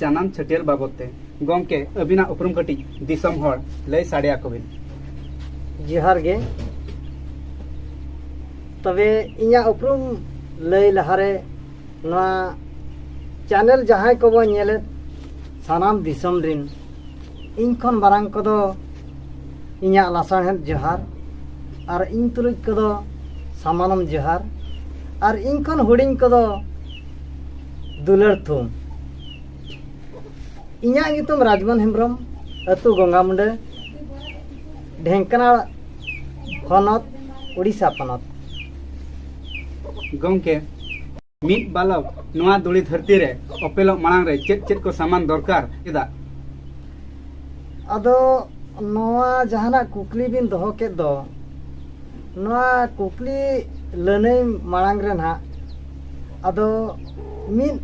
ᱡᱟᱱᱟᱢ ᱪᱷᱟᱹᱴᱭᱟᱹᱨ ᱵᱟᱵᱚᱛ ᱛᱮ ᱜᱚᱢᱠᱮ ᱟᱹᱵᱤᱱᱟᱜ ᱩᱯᱨᱩᱢ ᱠᱟᱹᱴᱤᱡ ᱫᱤᱥᱚᱢ ᱦᱚᱲ ᱞᱟᱹᱭ ᱥᱟᱰᱮ ᱟᱠᱚ ᱵᱤᱱ ᱡᱚᱦᱟᱨ ᱜᱮ ᱛᱚᱵᱮ ᱤᱧᱟᱹᱜ ᱩᱯᱨᱩᱢ ᱞᱟᱹᱭ ᱞᱟᱦᱟᱨᱮ ᱱᱚᱣᱟ ᱪᱮᱱᱮᱞ ᱡᱟᱦᱟᱸᱭ ᱠᱚᱵᱚ ᱧᱮᱞᱮᱫ ᱥᱟᱱᱟᱢ ᱫᱤᱥᱚᱢ ᱨᱤᱱ ᱤᱧ ᱠᱷᱚᱱ ᱢᱟᱨᱟᱝ ᱠᱚᱫᱚ ᱤᱧᱟᱹᱜ ᱞᱟᱥᱟᱬᱦᱮᱫ ᱡᱚᱦᱟᱨ ᱟᱨ ᱤᱧ ᱛᱩᱞᱩᱡ ᱠᱚᱫᱚ ᱥᱟᱢᱟᱱᱚᱢ ᱡᱚᱦᱟᱨ ᱟᱨ ᱤᱧ ᱠᱷᱚᱱ ᱦᱩᱰᱤᱧ ᱠᱚᱫᱚ ᱫᱩᱞᱟᱹᱲ ᱛᱷᱩᱢ ᱤᱧᱟᱹᱜ ᱧᱩᱛᱩᱢ ᱨᱟᱡᱽᱢᱚᱱ ᱦᱮᱢᱵᱨᱚᱢ ᱟᱹᱛᱩ ᱜᱚᱝᱜᱟ ᱢᱩᱸᱰᱟᱹ ᱰᱷᱮᱝᱠᱟᱱᱟᱲ ᱦᱚᱱᱚᱛ ᱩᱲᱤᱥᱥᱟ ᱯᱚᱱᱚᱛ ᱜᱚᱢᱠᱮ ᱢᱤᱫ ᱵᱟᱞᱚᱠ ᱱᱚᱣᱟ ᱫᱩᱲᱤ ᱫᱷᱟᱹᱨᱛᱤ ᱨᱮ ᱚᱯᱮᱞᱚᱜ ᱢᱟᱲᱟᱝ ᱨᱮ ᱪᱮᱫ ᱪᱮᱫ ᱠᱚ ᱥᱟᱢᱟᱱ ᱫᱚᱨᱠᱟᱨ ᱮᱫᱟ ᱟᱫᱚ ᱱᱚᱣᱟ ᱡᱟᱦᱟᱱᱟᱜ ᱠᱩᱠᱞᱤ ᱵᱤᱱ ᱫᱚᱦᱚ ᱠᱮᱫ ᱫᱚ ᱱᱚᱣᱟ ᱠᱩᱠᱞᱤ ᱞᱟᱹᱱᱟᱹᱭ ᱢᱟᱲᱟᱝ ᱨᱮ ᱱᱟᱦᱟᱜ ᱟᱫᱚ ᱢᱤᱫ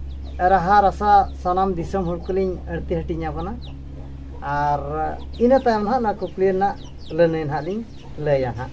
ᱨᱟᱦᱟ ᱨᱟᱥᱟ ᱥᱟᱱᱟᱢ ᱫᱤᱥᱚᱢ ᱦᱚᱲ ᱠᱚᱞᱤᱧ ᱟᱹᱲᱛᱤ ᱦᱟᱹᱴᱤᱧ ᱟᱵᱚᱱᱟ ᱟᱨ ᱤᱱᱟᱹ ᱛᱟᱭᱚᱢ ᱱᱟᱦᱟᱜ ᱱᱚᱣᱟ ᱠᱩᱠᱞᱤ ᱨᱮᱱᱟᱜ ᱞᱟᱹᱱᱟᱹᱭ ᱱᱟᱦᱟᱜ ᱞᱤᱧ ᱞᱟᱹᱭᱟ ᱱᱟᱦᱟᱜ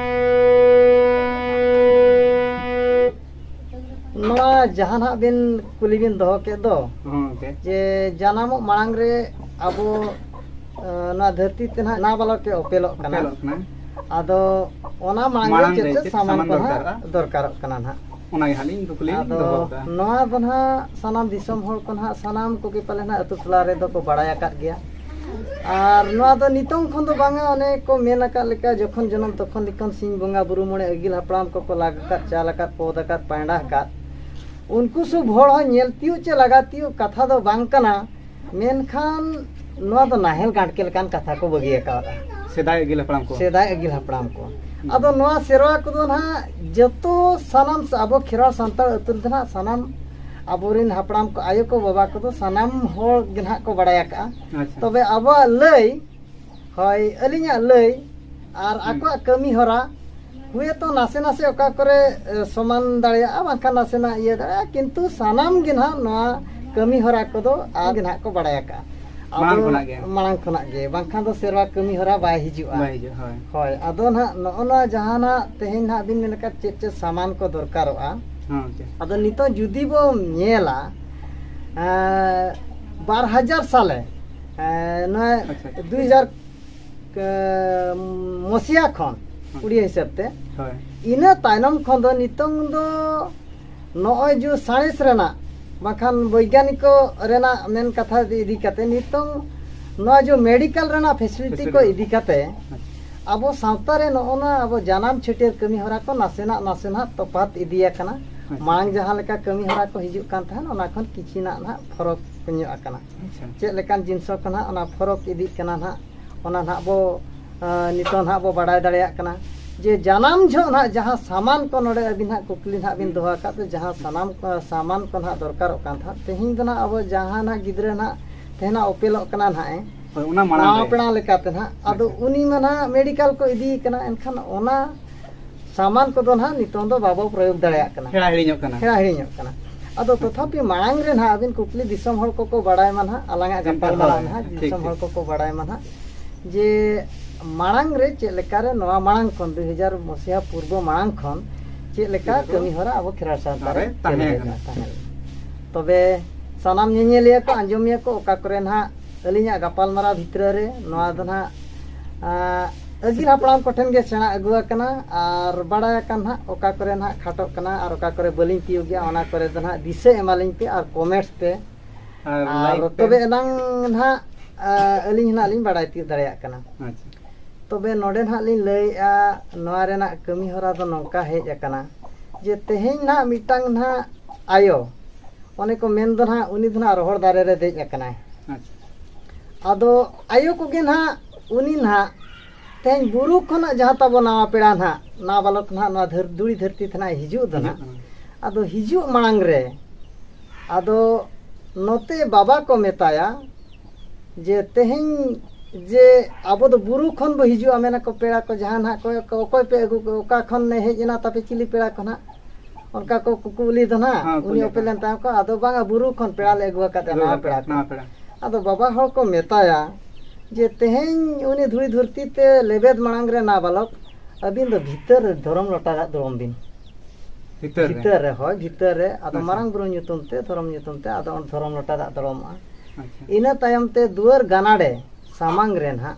ᱱᱚᱣᱟ ᱡᱟᱦᱟᱸ ᱱᱟᱦᱟᱜ ᱵᱤᱱ ᱠᱩᱞᱤ ᱵᱤᱱ ᱫᱚᱦᱚ ᱠᱮᱫ ᱫᱚ ᱡᱮ ᱡᱟᱱᱟᱢᱚᱜ ᱢᱟᱲᱟᱝ ᱨᱮ ᱟᱵᱚ ᱱᱚᱣᱟ ᱫᱷᱟᱹᱨᱛᱤ ᱛᱮ ᱱᱟᱦᱟᱜ ᱱᱟ ᱵᱟᱞᱚᱠ ᱮ ᱚᱯᱮᱞᱚᱜ ᱠᱟᱱᱟ ᱟᱫᱚ ᱚᱱᱟ ᱢᱟᱲᱟᱝ ᱨᱮ ᱪᱮᱫ ᱪᱮᱫ ᱥᱟᱢᱟᱱ ᱠᱚ ᱱᱟᱦᱟᱜ ᱫᱚᱨᱠᱟᱨᱚᱜ ᱠᱟᱱᱟ ᱱᱟᱦᱟᱜ ᱚᱱᱟ ᱜᱮ ᱦᱟᱞᱤᱧ ᱠᱩᱠᱞᱤ ᱟᱫᱚ ᱱᱚᱣᱟ ᱫᱚ ᱱᱟᱦᱟᱜ ᱥᱟᱱᱟᱢ ᱫᱤᱥᱚᱢ ᱦᱚᱲ ᱠᱚ ᱱᱟᱦᱟᱜ ᱥᱟᱱᱟᱢ ᱠᱚᱜᱮ ᱯᱟᱞᱮ ᱱᱟᱦᱟᱜ ᱟᱛᱳ ᱴᱚᱞᱟ ᱨᱮᱫᱚ ᱠᱚ ᱵᱟᱲᱟᱭ ᱟᱠᱟᱫ ᱜᱮᱭᱟ ᱟᱨ ᱱᱚᱣᱟ ᱫᱚ ᱱᱤᱛᱚᱝ ᱠᱷᱚᱱ ᱫᱚ ᱵᱟᱝᱟ ᱚᱱᱮ ᱠᱚ ᱢᱮᱱ ᱟᱠᱟᱫ ᱞᱮᱠᱟ ᱡᱚᱠᱷᱚᱱ ᱡᱚᱱᱚᱢ ᱛᱚᱠᱷᱚᱱ ᱞᱮᱠᱟᱱ ᱥᱤᱧ ᱵᱚᱸᱜᱟ ᱵᱩᱨᱩ ᱢᱚᱬᱮ ᱟᱹᱜᱤᱞ ᱦᱟᱯᱲᱟᱢ ᱠᱚᱠᱚ ᱞᱟᱜᱽ ᱟᱠᱟᱫ ᱪᱟᱞ ᱟᱠᱟᱫ ᱯᱚᱫᱽ ᱟᱠᱟᱫ ᱯᱟᱭᱬᱟ ᱟᱠᱟᱫ ᱩᱱᱠᱩ ᱥᱩᱵ ᱦᱚᱲ ᱦᱚᱸ ᱧᱮᱞ ᱛᱤᱭᱳᱜ ᱪᱮ ᱞᱟᱜᱟ ᱛᱤᱭᱳᱜ ᱠᱟᱛᱷᱟ ᱫᱚ ᱵᱟᱝ ᱠᱟᱱᱟ ᱢᱮᱱᱠᱷᱟᱱ ᱱᱚᱣᱟ ᱫᱚ ᱱᱟᱦᱮᱞ ᱜᱟᱸᱰᱠᱮ ᱞᱮᱠᱟᱱ ᱠᱟᱛᱷᱟ ᱠᱚ ᱵᱟᱹᱜᱤ ᱟᱠᱟᱫᱟ ᱥᱮᱫᱟᱭ ᱟᱹᱜᱤᱞ ᱦᱟᱯᱲᱟᱢ ᱠᱚ ᱥᱮᱫᱟᱭ ᱟᱹᱜᱤᱞ ᱦᱟᱯᱲᱟᱢ ᱠᱚ ᱟᱫᱚ ᱱᱚᱣᱟ ᱥᱮᱨᱣᱟ ᱠᱚᱫᱚ ᱱᱟᱦᱟᱜ ᱡᱚᱛᱚ ᱥᱟᱱᱟᱢ ᱟᱵᱚ ᱠᱷᱮᱨᱣᱟᱲ ᱥᱟᱱᱛᱟᱲ ᱟᱹᱛᱩ ᱨᱮᱫᱚ ᱱᱟᱦᱟᱜ ᱥᱟᱱᱟᱢ ᱟᱵᱚᱨᱮᱱ ᱦᱟᱯᱲᱟᱢ ᱠᱚ ᱟᱭᱳ ᱠᱚ ᱵᱟᱵᱟ ᱠᱚᱫᱚ ᱥᱟᱱᱟᱢ ᱦᱚᱲ ᱜᱮ ᱱᱟᱦᱟᱜ ᱠᱚ ᱵᱟᱲᱟᱭ ᱟᱠᱟᱜᱼᱟ ᱟᱪᱪᱷᱟ ᱛᱚᱵᱮ ᱟᱵᱚᱣᱟᱜ ᱞᱟᱹᱭ ᱦᱳᱭ ᱟᱹᱞᱤᱧᱟᱜ ᱞᱟᱹᱭ ᱟᱨ ᱟᱠᱚᱣᱟᱜ ᱠᱟᱹᱢᱤ ᱦᱚᱨᱟ ᱦᱩᱭᱛᱚ ᱱᱟᱥᱮ ᱱᱟᱥᱮ ᱚᱠᱟ ᱠᱚᱨᱮ ᱮ, ᱥᱚᱢᱟᱱ ᱫᱟᱲᱮᱭᱟᱜᱼᱟ ᱵᱟᱝᱠᱷᱟᱱ ᱱᱟᱥᱮᱱᱟᱜ ᱤᱭᱟᱹ ᱫᱟᱲᱮᱭᱟᱜᱼᱟ ᱠᱤᱱᱛᱩ ᱥᱟᱱᱟᱢ ᱜᱮ ᱱᱟᱦᱟᱜ ᱱᱚᱣᱟ ᱠᱟᱹᱢᱤ ᱦᱚᱨᱟ ᱠᱚᱫᱚ ᱟᱨ ᱜᱮ ᱱᱟᱦᱟᱜ ᱠᱚ ᱵᱟᱲᱟᱭ ᱟᱠᱟᱜᱼᱟ ᱟᱵᱚ- ᱢᱟᱲᱟᱝ ᱠᱷᱚᱱᱟᱜ ᱜᱮ᱾ ᱢᱟᱲᱟᱝ ᱠᱷᱚᱱᱟᱜ ᱜᱮ ᱵᱟᱝᱠᱷᱟᱱ ᱫᱚ ᱥᱮᱨᱣᱟ ᱠᱟᱹᱢᱤ ᱦᱚᱨᱟ ᱵᱟᱭ ᱦᱤᱡᱩᱜᱼᱟ ᱵᱟᱭ ᱦᱤᱡᱩᱜ ᱦᱳᱭ ᱦᱳᱭ ᱟᱫᱚ ᱱᱟᱦᱟᱜ ᱱᱚᱜᱼᱚ ᱱᱚᱣᱟ ᱡᱟᱦᱟᱱᱟᱜ ᱛᱮᱦᱮᱧ ᱱᱟᱦᱟᱜ ᱵᱤᱱ ᱢᱮᱱ ᱟᱠᱟᱫ ᱪᱮᱫ ᱪᱮᱫ ᱥᱟᱢᱟᱱ ᱠᱚ ᱫᱚᱨᱠᱟᱨᱚᱜᱼᱟ ᱟᱫᱚ ᱱᱤᱛᱚᱜ ᱡᱩᱫᱤ ᱵᱚᱱ ᱧᱮᱞᱟ ᱵᱟᱨ ᱦᱟᱡᱟᱨ ᱥᱟᱞᱮ ᱱᱚᱣᱟ ᱫᱩᱭ ᱦᱟᱡᱟᱨ ᱢᱚᱥᱤᱭᱟ ᱠᱷᱚᱱ ᱩᱲᱤᱭᱟ ᱦᱤᱥᱟᱹᱵ ᱛᱮ ᱤᱱᱟᱹ ᱛᱟᱭᱱᱚᱢ ᱠᱷᱚᱱ ᱫᱚ ᱱᱤᱛᱚᱝ ᱫᱚ ᱱᱚᱜᱼᱚᱭ ᱡᱮ ᱥᱟᱬᱮᱥ ᱨᱮᱱᱟᱜ ᱵᱟᱠᱷᱟᱱ ᱵᱳᱭᱜᱟᱱᱤᱠᱚ ᱨᱮᱱᱟᱜ ᱢᱮᱱ ᱠᱟᱛᱷᱟ ᱤᱫᱤ ᱠᱟᱛᱮ ᱱᱤᱛᱚᱝ ᱱᱚᱣᱟ ᱡᱮ ᱢᱮᱰᱤᱠᱟᱞ ᱨᱮᱱᱟᱜ ᱯᱷᱮᱥᱤᱞᱤᱴᱤ ᱠᱚ ᱤᱫᱤ ᱠᱟᱛᱮ ᱟᱵᱚ ᱥᱟᱶᱛᱟ ᱨᱮ ᱱᱚᱜᱼᱚ ᱱᱟ ᱟᱵᱚ ᱡᱟᱱᱟᱢ ᱪᱷᱟᱹᱴᱭᱟᱹᱨ ᱠᱟᱹᱢᱤ ᱦᱚᱨᱟ ᱠᱚ ᱱᱟᱥᱮᱱᱟᱜ ᱱᱟᱥᱮᱱᱟᱜ ᱛᱚᱯᱷᱟᱛ ᱤᱫᱤ ᱟᱠᱟᱱᱟ ᱟᱪᱪᱷᱟ᱾ ᱢᱟᱲᱟᱝ ᱡᱟᱦᱟᱸ ᱞᱮᱠᱟ ᱠᱟᱹᱢᱤ ᱦᱚᱨᱟ ᱠᱚ ᱦᱤᱡᱩᱜ ᱠᱟᱱ ᱛᱟᱦᱮᱸᱫ ᱚᱱᱟ ᱠᱷᱚᱱ ᱠᱤᱪᱷᱤ ᱱᱟᱜ ᱱᱟᱦᱟᱜ ᱯᱷᱚᱨᱚᱠ ᱧᱚᱜ ᱟᱠᱟᱱᱟ ᱟᱪᱪᱷᱟ᱾ ᱪᱮᱫ ᱞᱮᱠᱟᱱ ᱡᱤᱱᱤᱥᱚ ᱠᱚ ᱱᱟᱦᱟᱜ ᱚᱱᱟ ᱯᱷᱚᱨᱚᱠ ᱤᱫᱤᱜ ᱠᱟᱱᱟ ᱱᱟᱦᱟᱜ ᱚᱱᱟ ᱱᱟᱦᱟᱜ ᱵᱚ ᱟᱸ, ᱱᱤᱛᱚᱜ ᱱᱟᱦᱟᱜ ᱵᱚ ᱵᱟᱰᱟᱭ ᱫᱟᱲᱮᱭᱟᱜ ᱠᱟᱱᱟ ᱡᱮ ᱡᱟᱱᱟᱢ ᱡᱷᱚᱜ ᱱᱟᱦᱟᱜ ᱡᱟᱦᱟᱸ ᱥᱟᱢᱟᱱ ᱠᱚ ᱱᱚᱰᱮ ᱟᱹᱵᱤᱱ ᱱᱟᱦᱟᱜ ᱠᱩᱠᱞᱤ ᱱᱟᱦᱟᱜ ᱵᱤᱱ ᱫᱚᱦᱚ ᱟᱠᱟᱫ ᱫᱚ ᱡᱟᱦᱟᱸ ᱥᱟᱱᱟᱢ ᱠᱚ ᱥᱟᱢᱟᱱ ᱠᱚ ᱱᱟᱦᱟᱜ ᱫᱚᱨᱠᱟᱨᱚᱜ ᱠᱟᱱ ᱛᱟᱦᱮᱸᱫ ᱛᱮᱦᱮᱧ ᱫᱚ ᱱᱟᱦᱟᱜ ᱟᱵᱚ ᱡᱟᱦᱟᱸ ᱱᱟᱦᱟᱜ ᱜᱤᱫᱽᱨᱟᱹ ᱱᱟᱦᱟᱜ ᱛᱮᱦᱮᱧ ᱱᱟᱦᱟᱜ ᱚᱯᱮᱞᱚᱜ ᱠᱟᱱᱟ ᱱᱟᱦᱟᱜ ᱮ ᱚᱱᱟ ᱢᱟᱲᱟᱝ ᱯᱮᱲᱟ ᱞᱮᱠᱟᱛᱮ ᱱᱟᱦᱟᱜ ᱟᱫᱚ ᱩᱱᱤ ᱢᱟ ᱱᱟᱦᱟᱜ ᱢᱮᱰᱤᱠᱟᱞ ᱠᱚ ᱤᱫᱤ ᱠᱟᱱᱟ ᱮᱱᱠᱷᱟᱱ ᱚᱱᱟ ᱥᱟᱢᱟᱱ ᱠᱚᱫᱚ ᱱᱟᱦᱟᱜ ᱱᱤᱛᱚᱝ ᱫᱚ ᱵᱟᱵᱚ ᱯᱨᱚᱭᱳᱜᱽ ᱫᱟᱲᱮᱭᱟᱜ ᱠᱟᱱᱟ ᱦᱮᱲᱟ ᱦᱤᱲᱤᱧᱚᱜ ᱠᱟᱱᱟ ᱦᱮᱲᱟ ᱦᱤᱲᱤᱧᱚᱜ ᱠᱟᱱᱟ ᱟᱫᱚ ᱛᱚᱛᱷᱟᱯᱤ ᱢᱟᱲᱟᱝ ᱨᱮ ᱱᱟᱦᱟᱜ ᱟᱹᱵᱤᱱ ᱠᱩᱠᱞᱤ ᱫᱤᱥᱚᱢ ᱦᱚᱲ ᱠᱚᱠᱚ ᱵᱟᱲᱟᱭ ᱢᱟ ᱱᱟᱦᱟᱜ ᱟᱞᱟᱝᱟᱜ ᱜᱟᱯᱟᱞᱢᱟᱨᱟᱣ ᱱᱟᱦᱟᱜ ᱫᱤᱥᱚᱢ ᱦᱚᱲ ᱠᱚᱠᱚ ᱵᱟᱲᱟᱭ ᱢᱟ ᱱᱟᱦᱟᱜ ᱡᱮ ᱢᱟᱲᱟᱝ ᱨᱮ ᱪᱮᱫ ᱞᱮᱠᱟᱨᱮ ᱱᱚᱣᱟ ᱢᱟᱲᱟᱝ ᱠᱷᱚᱱ ᱫᱩᱭ ᱦᱟᱡᱟᱨ ᱢᱚᱥᱤᱦᱟ ᱯᱩᱨᱵᱚ ᱢᱟᱲᱟᱝ ᱠᱷᱚᱱ ᱪᱮᱫ ᱞᱮᱠᱟ ᱠᱟᱹᱢᱤ ᱦᱚᱨᱟ ᱟᱵᱚ ᱠᱷᱮᱨᱣᱟᱲ ᱥᱟᱶᱛᱟ ᱨᱮ ᱛᱟᱦᱮᱸ ᱛᱟᱦᱮᱸ ᱛᱚᱵᱮ ᱥᱟᱱᱟᱢ ᱧᱮᱧᱮᱞᱤᱭᱟᱹ ᱠᱚ ᱟᱸᱡᱚᱢᱤᱭᱟᱹ ᱠᱚ ᱚᱠᱟ ᱠᱚᱨᱮ ᱱᱟᱦᱟᱜ ᱟᱹᱞᱤᱧᱟᱜ ᱜᱟᱯᱟᱞᱢᱟᱨᱟᱣ ᱵᱷᱤᱛᱨᱟᱹ ᱨᱮ ᱱᱚᱣᱟ ᱫᱚ ᱱᱟᱦᱟᱜ ᱟᱹᱜᱤᱞ ᱦᱟᱯᱲᱟᱢ ᱠᱚᱴᱷᱮᱱ ᱜᱮ ᱥᱮᱬᱟ ᱟᱹᱜᱩ ᱟᱠᱟᱱᱟ ᱟᱨ ᱵᱟᱲᱟᱭ ᱟᱠᱟᱱ ᱱᱟᱦᱟᱜ ᱚᱠᱟ ᱠᱚᱨᱮ ᱱᱟᱦᱟᱜ ᱠᱷᱟᱴᱚᱜ ᱠᱟᱱᱟ ᱟᱨ ᱚᱠᱟ ᱠᱚᱨᱮ ᱵᱟᱹᱞᱤᱧ ᱛᱤᱭᱳᱜ ᱜᱮᱭᱟ ᱚᱱᱟ ᱠᱚᱨᱮ ᱫᱚ ᱱᱟᱦᱟᱜ ᱫᱤᱥᱟᱹ ᱮᱢᱟᱞᱤᱧ ᱯᱮ ᱟᱨ ᱠᱚᱢᱮᱱᱴ ᱯᱮ ᱟᱨ ᱛᱚᱵᱮ ᱮᱱᱟᱝ ᱱᱟᱦᱟᱜ ᱟᱹᱞᱤᱧ ᱱᱟᱦᱟᱜ ᱞᱤᱧ ᱵᱟᱲᱟᱭ ᱛᱤᱭᱳᱜ ᱫᱟᱲᱮᱭᱟᱜ ᱠᱟᱱᱟ ᱛᱚᱵᱮ ᱱᱚᱰᱮ ᱱᱟᱦᱟᱜ ᱞᱤᱧ ᱞᱟᱹᱭᱮᱫᱼᱟ ᱱᱚᱣᱟ ᱨᱮᱱᱟᱜ ᱠᱟᱹᱢᱤ ᱦᱚᱨᱟ ᱫᱚ ᱱᱚᱝᱠᱟ ᱦᱮᱡ ᱟᱠᱟᱱᱟ ᱡᱮ ᱛᱮᱦᱮᱧ ᱱᱟᱦᱟᱜ ᱢᱤᱫᱴᱟᱝ ᱱᱟᱦᱟᱜ ᱟᱭᱳ ᱚᱱᱮ ᱠᱚ ᱢᱮᱱ ᱫᱚ ᱱᱟᱦᱟᱜ ᱩᱱᱤ ᱫᱚ ᱱᱟᱦᱟᱜ ᱨᱚᱦᱚᱲ ᱫᱟᱨᱮ ᱨᱮ ᱫᱮᱡ ᱟᱠᱟᱱᱟᱭ ᱟᱪᱪᱷᱟ ᱟᱫᱚ ᱟᱭᱳ ᱠᱚᱜᱮ ᱱᱟᱦᱟᱜ ᱩᱱᱤ ᱱᱟᱦᱟᱜ ᱛᱮᱦᱮᱧ ᱵᱩᱨᱩ ᱠᱷᱚᱱᱟᱜ ᱡᱟᱦᱟᱸ ᱛᱟᱵᱚ ᱱᱟᱣᱟ ᱯᱮᱲᱟ ᱱᱟᱦᱟᱜ ᱱᱟᱣᱟ ᱵᱟᱞᱚᱠ ᱱᱟᱦᱟᱜ ᱱᱚᱣᱟ ᱫᱷᱟᱹᱨ ᱫᱩᱲᱤ ᱫᱷᱟᱹᱨᱛᱤ ᱛᱮ ᱱᱟᱦᱟᱜ ᱦᱤᱡᱩᱜ ᱫᱚ ᱱᱟᱦᱟᱜ ᱟᱫᱚ ᱦᱤᱡᱩᱜ ᱢᱟᱲᱟᱝ ᱨᱮ ᱟᱫᱚ ᱱᱚᱛᱮ ᱵᱟᱵᱟ ᱠᱚ ᱢᱮᱛᱟᱭᱟ ᱡᱮ ᱛᱮᱦᱮᱧ ᱡᱮ ᱟᱵᱚ ᱫᱚ ᱵᱩᱨᱩ ᱠᱷᱚᱱ ᱵᱚ ᱦᱤᱡᱩᱜᱼᱟ ᱢᱮᱱᱟᱠᱚ ᱯᱮᱲᱟ ᱠᱚ ᱡᱟᱦᱟᱸ ᱱᱟᱦᱟᱜ ᱠᱚ ᱚᱠᱚᱭ ᱯᱮ ᱟᱹᱜᱩ ᱠᱚ ᱚᱠᱟ ᱠᱷᱚᱱ ᱦᱮᱡ ᱮᱱᱟ ᱛᱟᱯᱮ ᱪᱤᱞᱤ ᱯᱮᱲᱟ ᱠᱚ ᱱᱟᱦᱟᱜ ᱚᱱᱠᱟ ᱠᱚ ᱠᱩᱠᱩ ᱩᱞᱤ ᱫᱚ ᱱᱟᱜ ᱦᱮᱸ, ᱩᱱᱤ ᱠᱩᱞᱤ ᱚᱯᱮᱞ ᱞᱮᱱ ᱛᱟᱦᱮᱸ ᱠᱚ ᱟᱫᱚ ᱵᱟᱝᱟ ᱵᱩᱨᱩ ᱠᱷᱚᱱ ᱯᱮᱲᱟ ᱞᱮ ᱟᱹᱜᱩ ᱟᱠᱟᱫᱮᱭᱟ ᱱᱟᱣᱟ ᱯᱮᱲᱟ ᱠᱚ ᱱᱟᱣᱟ ᱯᱮᱲᱟ ᱟᱫᱚ ᱵᱟᱵᱟ ᱦᱚᱲ ᱠᱚ ᱢᱮᱛᱟᱭᱟ ᱡᱮ ᱛᱮᱦᱮᱧ ᱩᱱᱤ ᱫᱷᱩᱲᱤ ᱫᱷᱩᱨᱛᱤ ᱛᱮ ᱞᱮᱵᱮᱫ ᱢᱟᱲᱟᱝ ᱨᱮ ᱱᱟ ᱵᱟᱞᱚᱠ ᱟᱹᱵᱤᱱ ᱫᱚ ᱵᱷᱤᱛᱟᱹᱨ ᱨᱮ ᱫᱷᱚᱨᱚᱢ ᱞᱚᱴᱟ ᱫᱟᱜ ᱫᱩᱲᱩᱢ ᱵᱤᱱ ᱵᱷᱤᱛᱟᱹᱨ ᱨᱮ ᱵᱷᱤᱛᱟᱹᱨ ᱨᱮ ᱦᱳᱭ ᱵᱷᱤᱛᱟᱹᱨ ᱨᱮ ᱟᱫᱚ ᱟᱪᱪᱷᱟ᱾ ᱢᱟᱨᱟᱝ ᱵᱩᱨᱩ ᱧᱩᱛᱩᱢ ᱛᱮ ᱫᱷᱚᱨᱚᱢ ᱧᱩᱛᱩᱢ ᱛᱮ ᱟᱫᱚ ᱚᱸᱰᱮ ᱫᱷᱚᱨᱚᱢ ᱞᱚᱴᱟ ᱫᱟᱜ ᱫᱚᱲᱚᱢᱚᱜᱼᱟ ᱟᱪᱪᱷᱟ ᱤᱱᱟᱹ ᱛᱟᱭᱚᱢ ᱛᱮ ᱫᱩᱣᱟᱹᱨ ᱜᱟᱱᱟᱰᱮ ᱥᱟᱢᱟᱝ ᱨᱮ ᱱᱟᱦᱟᱜ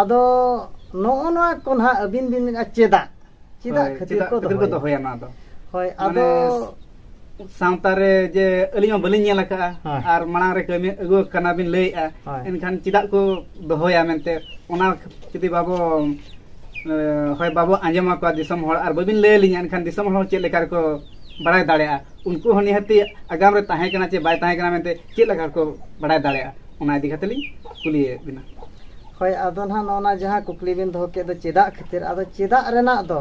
ᱟᱫᱚ ᱱᱚᱜᱼᱚ ᱱᱚᱣᱟ ᱠᱚ ᱱᱟᱦᱟᱜ ᱟᱹᱵᱤᱱ ᱵᱤᱱ ᱢᱮᱱᱟ ᱪᱮᱫᱟᱜ ᱪᱮᱫᱟᱜ ᱠᱷᱟᱹᱛᱤᱨ ᱠᱚ ᱫᱚᱦᱚᱭᱟ ᱱᱚᱣᱟ ᱫᱚ ᱦᱳᱭ ᱟᱫᱚ ᱥᱟᱶᱛᱟ ᱨᱮ ᱡᱮ ᱟᱹᱞᱤᱧ ᱦᱚᱸ ᱵᱟᱹᱞᱤᱧ ᱧᱮᱞ ᱟᱠᱟᱫᱼᱟ ᱟᱨ ᱢᱟᱲᱟᱝ ᱨᱮ ᱠᱟᱹᱢᱤ ᱟᱹᱜᱩ ᱠᱟᱱᱟ ᱵᱤᱱ ᱞᱟᱹᱭᱮᱫᱼᱟ ᱮᱱᱠᱷᱟᱱ ᱪᱮᱫᱟᱜ ᱠᱚ ᱫᱚᱦᱚᱭᱟ ᱢᱮᱱᱛᱮ ᱚᱱᱟ ᱡᱩᱫᱤ ᱵᱟᱵᱚ ᱦᱳᱭ ᱵᱟᱵᱚ ᱟᱸᱡᱚᱢ ᱟᱠᱚᱣᱟ ᱫᱤᱥᱚᱢ ᱦᱚᱲ ᱟᱨ ᱵᱟᱹᱵᱤᱱ ᱞᱟᱹᱭ ᱟᱹᱞᱤᱧᱟ ᱮᱱᱠᱷᱟᱱ ᱫᱤᱥᱚᱢ ᱦᱚᱲ ᱪᱮᱫ ᱞᱮᱠᱟ ᱨᱮᱠᱚ ᱵᱟᱲᱟᱭ ᱫᱟᱲᱮᱭᱟᱜᱼᱟ ᱩᱱᱠᱩ ᱦᱚᱸ ᱱᱤᱦᱟᱹᱛᱤ ᱟᱜᱟᱢ ᱨᱮ ᱛᱟᱦᱮᱸ ᱠᱟᱱᱟ ᱪᱮ ᱵᱟᱭ ᱛᱟᱦᱮᱸ ᱠᱟᱱᱟ ᱢᱮᱱᱛᱮ ᱪᱮᱫ ᱞᱮᱠᱟ ᱠᱚ ᱵᱟᱲᱟᱭ ᱫᱟᱲᱮᱭᱟᱜᱼᱟ ᱚᱱᱟ ᱤᱫᱤ ᱠᱟᱛᱮ ᱞᱤᱧ ᱠᱩᱞᱤᱭᱮᱫ ᱵᱤᱱᱟ ᱦᱳᱭ ᱟᱫᱚ ᱱᱟᱦᱟᱜ ᱱᱚᱜᱼᱚᱱᱟ ᱡᱟᱦᱟᱸ ᱠᱩᱠᱞᱤ ᱵᱤᱱ ᱫᱚᱦᱚ ᱠᱮᱫ ᱫᱚ ᱪᱮᱫᱟᱜ ᱠᱷᱟᱹᱛᱤᱨ ᱟᱫᱚ ᱪᱮᱫᱟᱜ ᱨᱮᱱᱟᱜ ᱫᱚ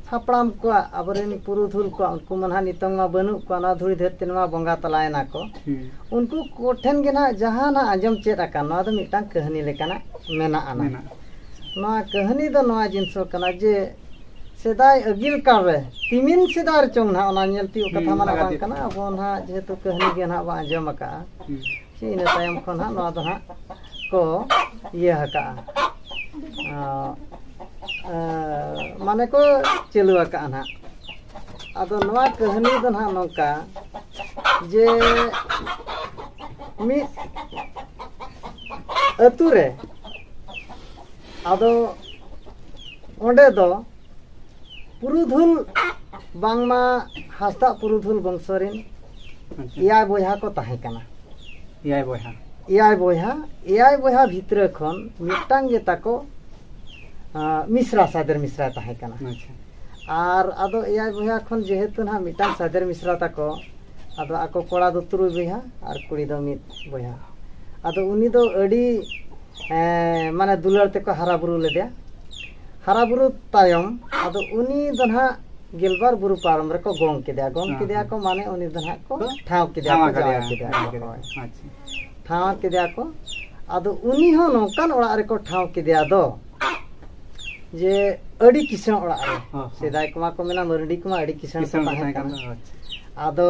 ᱦᱟᱯᱲᱟᱢ ᱠᱚᱣᱟᱜ ᱟᱵᱚᱨᱮᱱ ᱯᱩᱨᱩᱫᱷᱩᱞ ᱠᱚᱣᱟᱜ ᱩᱱᱠᱩ ᱢᱟ ᱱᱟᱦᱟᱜ ᱱᱤᱛᱚᱝ ᱢᱟ ᱵᱟᱹᱱᱩᱜ ᱠᱚᱣᱟ ᱱᱚᱣᱟ ᱫᱷᱩᱲᱤ ᱫᱷᱟᱹᱨᱛᱤ ᱱᱚᱣᱟ ᱵᱚᱸᱜᱟ ᱛᱟᱞᱟᱭᱮᱱᱟ ᱠᱚ ᱩᱱᱠᱩ ᱠᱚᱴᱷᱮᱱ ᱜᱮ ᱱᱟᱦᱟᱜ ᱡᱟᱦᱟᱸ ᱱᱟᱦᱟᱜ ᱟᱸᱡᱚᱢ ᱪᱮᱫ ᱟᱠᱟᱱ ᱱᱚᱣᱟ ᱫᱚ ᱢᱤᱫᱴᱟᱝ ᱠᱟᱹᱦᱱᱤ ᱞᱮᱠᱟᱱᱟᱜ ᱢᱮᱱᱟᱜᱼᱟ ᱱᱚᱣᱟ ᱠᱟᱹᱦᱱᱤ ᱫᱚ ᱱᱚᱣᱟ ᱡᱤᱱᱤᱥ ᱠᱟᱱᱟ ᱡᱮ ᱥᱮᱫᱟᱭ ᱟᱹᱜᱤᱞ ᱠᱟᱞ ᱨᱮ ᱛᱤᱢᱤᱱ ᱥᱮᱫᱟᱭ ᱨᱮᱪᱚᱝ ᱱᱟᱦᱟᱜ ᱚᱱᱟ ᱧᱮᱞ ᱛᱤᱭᱳᱜ ᱠᱟᱛᱷᱟ ᱢᱟ ᱵᱟᱝ ᱠᱟᱱᱟ ᱟᱵᱚ ᱱᱟᱦᱟᱜ ᱡᱮᱦᱮᱛᱩ ᱠᱟᱹᱦᱱᱤ ᱜᱮ ᱱᱟᱦᱟᱜ ᱵᱚᱱ ᱟᱸᱡᱚᱢ ᱟᱠᱟᱫᱼᱟ ᱥᱮ ᱤᱱᱟᱹ ᱛᱟᱭᱚᱢ ᱠᱷᱚᱱ ᱦᱟᱸᱜ ᱱᱚᱣᱟ ᱫᱚ ᱦᱟᱸᱜ ᱠᱚ ᱤᱭᱟᱹ ᱟᱠᱟᱜᱼᱟ ᱢᱟᱱᱮ ᱠᱚ ᱪᱟᱹᱞᱩ ᱟᱠᱟᱜᱼᱟ ᱱᱟᱦᱟᱜ ᱟᱫᱚ ᱱᱚᱣᱟ ᱠᱟᱹᱦᱱᱤ ᱫᱚ ᱱᱟᱦᱟᱜ ᱱᱚᱝᱠᱟ ᱡᱮ ᱢᱤᱫ ᱟᱹᱛᱩ ᱨᱮ ᱟᱫᱚ ᱚᱸᱰᱮ ᱫᱚ ᱯᱩᱨᱩᱫᱷᱩᱞ ᱵᱟᱝᱢᱟ ᱦᱟᱸᱥᱫᱟ ᱯᱩᱨᱩᱫᱷᱩᱞ ᱵᱚᱝᱥᱚ ᱨᱮᱱ ᱮᱭᱟᱭ ᱵᱚᱭᱦᱟ ᱠᱚ ᱛᱟᱦᱮᱸ ᱠᱟᱱᱟ ᱮᱭᱟᱭ ᱵᱚᱭᱦᱟ ᱮᱭᱟᱭ ᱵᱚᱭᱦᱟ ᱮᱭᱟᱭ ᱵᱚᱭᱦᱟ ᱵᱷᱤᱛᱨᱟᱹ ᱠᱷᱚᱱ ᱢᱤᱫᱴᱟᱝ ᱜᱮ ᱛᱟᱠᱚ ᱢᱤᱥᱨᱟ ᱥᱟᱫᱮᱨ ᱢᱤᱥᱨᱟ ᱛᱟᱦᱮᱸ ᱠᱟᱱᱟ ᱟᱨ ᱟᱫᱚ ᱮᱭᱟᱭ ᱵᱚᱭᱦᱟ ᱠᱷᱚᱱ ᱡᱮᱦᱮᱛᱩ ᱱᱟᱦᱟᱜ ᱢᱤᱫᱴᱟᱝ ᱥᱟᱫᱮᱨ ᱢᱤᱥᱨᱟ ᱛᱟᱠᱚ ᱟᱫᱚ ᱟᱠᱚ ᱠᱚᱲᱟ ᱫᱚ ᱛᱩᱨᱩᱭ ᱵᱚᱭᱦᱟ ᱟᱨ ᱠᱩᱲᱤ ᱫᱚ ᱢᱤᱫ ᱵᱚᱭᱦᱟ ᱟᱫᱚ ᱩᱱᱤ ᱫᱚ ᱟᱹᱰᱤ ᱢᱟᱱᱮ ᱫᱩᱞᱟᱹᱲ ᱛᱮᱠᱚ ᱦᱟᱨᱟ ᱵᱩᱨᱩ ᱞᱮᱫᱮᱭᱟ ᱦᱟᱨᱟ ᱵᱩᱨᱩ ᱛᱟᱭᱚᱢ ᱟᱫᱚ ᱩᱱᱤ ᱫᱚ ᱱᱟᱦᱟᱜ ᱜᱮᱞᱵᱟᱨ ᱵᱩᱨᱩ ᱯᱟᱨᱚᱢ ᱨᱮᱠᱚ ᱜᱚᱝ ᱠᱮᱫᱮᱭᱟ ᱜᱚᱝ ᱠᱮᱫᱮᱭᱟ ᱠᱚ ᱢᱟᱱᱮ ᱩᱱᱤ ᱫᱚ ᱱᱟᱦᱟᱜ ᱠᱚ ᱴᱷᱟᱶ ᱠᱮᱫᱮᱭᱟ ᱠᱚ ᱡᱟᱶᱟᱭ ᱠᱮᱫᱮᱭᱟ ᱠᱚ ᱦᱳᱭ ᱴᱷᱟᱶ ᱠᱮᱫᱮᱭᱟ ᱠᱚ ᱟᱫᱚ ᱩᱱᱤ ᱦᱚᱸ ᱱᱚᱝᱠᱟᱱ ᱚᱲᱟᱜ ᱨᱮᱠᱚ ᱴᱷᱟᱶ ᱠᱮᱫᱮᱭᱟ ᱫᱚ ᱡᱮ ᱟᱹᱰᱤ ᱠᱤᱥᱟᱹᱬ ᱚᱲᱟᱜ ᱨᱮ ᱥᱮᱫᱟᱭ ᱠᱚᱢᱟ ᱠᱚ ᱢᱮᱱᱟ ᱢᱟᱹᱨᱰᱤ ᱠᱚᱢᱟ ᱟᱹᱰᱤ ᱠᱤᱥᱟᱹᱬ ᱠᱚ ᱛᱟᱦᱮᱸ ᱠᱟᱱᱟ ᱟᱫᱚ